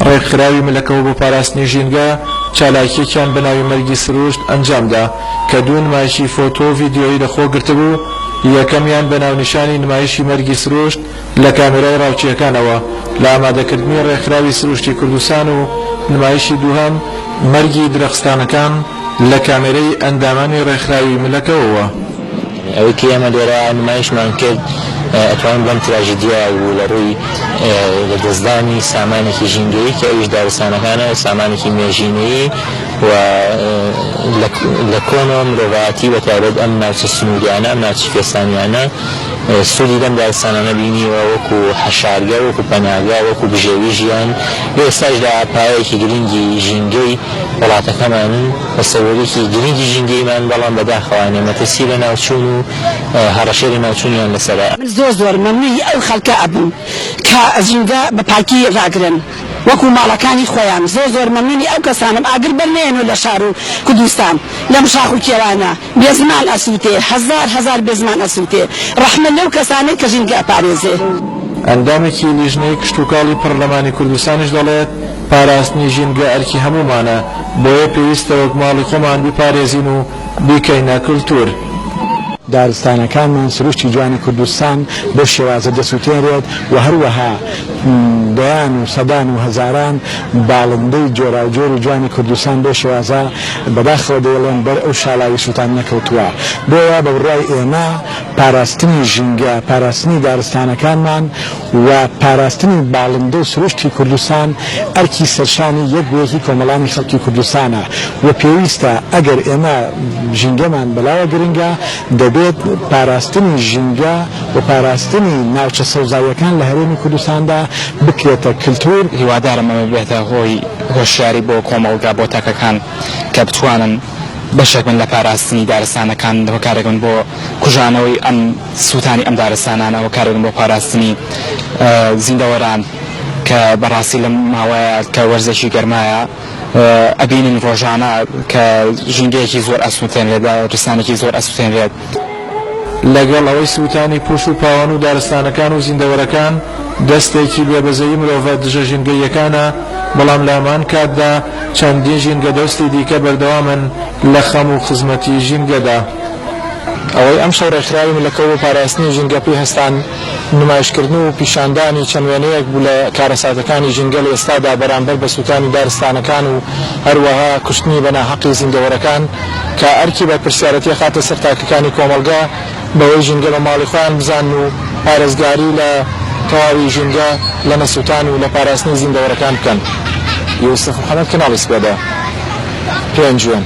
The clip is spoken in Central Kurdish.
ڕێکخراوی ملەکەوە بۆ پاراستنی ژینگە چالاکیەکیان بە ناوی مەرگی سروشت ئەنجامدا کە دوو نمایشی فۆتۆ ڤیددیۆی لەخۆ گرتبوو یەکەمیان بە ناونیشانی نمایشی مەرگی سروشت لە کامێرای ڕاوچییەکانەوە لە ئامادەکردنی ڕێکخراوی سروشتی کوردستان و نمایشی دووهەم مەرگی درەخستانەکان لە کامێرەی ئەندامانی ڕێکخراوی ملەکەوەوە. ئەوەی کە ئێمە لێرە نمایشمان کرد ئەتوانین بڵێین تراژیدیا بوو لە ڕووی لە دەستدانی سامانێکی ژینگەیی کە ئەویش دارستانەکانە و سامانێکی مێژینەیی و لە کۆنەوە مرۆڤایەتی بە تایبەت ئەم ناوچە سنووریانە ئەم ناوچە کوێستانیانە سوودی لەم دارستانانە بینیوە وەکو حەشارگە، وەکو پەناگە، وەکو بژێوی ژیان، لە ئێستاشدا پایەیەکی گرنگی ژینگەی وڵاتەکەمانن و سەروەریی گرنگی ژینگەیمان، بەڵام بەداخەوانە مەترسی لەناوچوون و هەڕەشەی لەناوچوونیان لەسەرە. من زۆر زۆر مەمنوی ئەو خەلکە ئەبم کە ژینگە بە پاکی راگرن وەکو ماڵەکانی خۆیان زۆر زۆر مەمنونی ئەو کەسانەم ئاگر بەر نەیەنۆ لە شارو کودوستان لەم شاخ و کێوانە. بێزمان ئەسوتێ هەزار هەزار بێزمان ئەسوتێ ڕەحمە لەو کەسانەی کە ژینگە ئەپارێزێ. ئەندامێکی لیژنەی کشتوکاڵی پەرلەمانی کوردستانیش دەڵێت، پاراستنی ژینگە ئەرکی هەموومانە، بۆیە پێویستە وەک ماڵی خۆمان بیپارێزین و بیکەینە کلتوور. دارستانەکانمان، سروشتی جوانی کوردستان بەو شێوازە دەسوتێنرێت و هەروەها دەیان و سەدان و هەزاران باڵندەی جۆراوجۆر و جوانی کوردستان بەو شێوازە بەداخەوە دەیڵێم بەر ئەو شاڵاوی سوڵتان نەکەوتووە، بۆیە بە بڕوای ئێمە پاراستنی ژینگە، پاراستنی دارستانەکانمان و پاراستنی باڵندە و سروشتی کوردستان ئەرکی سەرشانی یەک بە یەکی کۆمەڵانی خەڵکی کوردستانە و پێویستە ئەگەر ئێمە ژینگەمان بەلاوە گرنگە دەبێت پاراستنی ژینگە و پاراستنی ناوچە سەوزاییەکان لە هەرێمی کوردستاندا بکرێتە کلتور. هیوادارم ئەمە ببێتە هۆی هۆشیاری بۆ کۆمەڵگا بۆ تاکەکان کە بتوانن بەشێک بن لە پاراستنی دارستانەکان هۆکارێک بن بۆ کوژانەوەی ئەم سووتانی ئەم دارستانانە هۆکارێک بن بۆ پاراستنی زیندەوەران کە بەڕاستی لەم ماوەیە کە وەرزێکی گەرمایە ئەبینین ڕۆژانە کە ژینگەیەکی زۆر ئەسووتێنرێت دارستانێکی زۆر ئەسووتێنرێت. لەگەڵ ئەوەی سووتانی پوش و پاوان و دارستانەکان و زیندەوەرەکان دەستێکی بێ بەزەیی مرۆڤە دژە ژینگەییەکانە، بەڵام لە هەمان کاتدا چەندین ژینگەدۆستی دیکە بەردەوامن لە خەم و خزمەتی ژینگەدا. ئەوەی ئەمشەو ڕێکخراوی ملەکەو بۆ پاراستنی ژینگە پێی هەستان، نمایشکردن و پیشاندانی چەند وێنەیەک بوو لە کارەساتەکانی ژینگە لە ئێستادا بەرامبەر بە سووتانی دارستانەکان و هەروەها کوشتنی بە ناحەقی زیندەوەرەکان کە ئەرکی بەرپرسیارەتی ئەخاتە سەر تاکەکانی کۆمەڵگە بەوەی ژینگە بە ماڵی خۆیان بزانن و پارێزگاری لە تەواوی ژینگە لە نەسووتان و لە پاراستنی زیندەوەرەکان بکەن. یوسف محەمەد، کەناڵی سپێدە، پێنجوێن.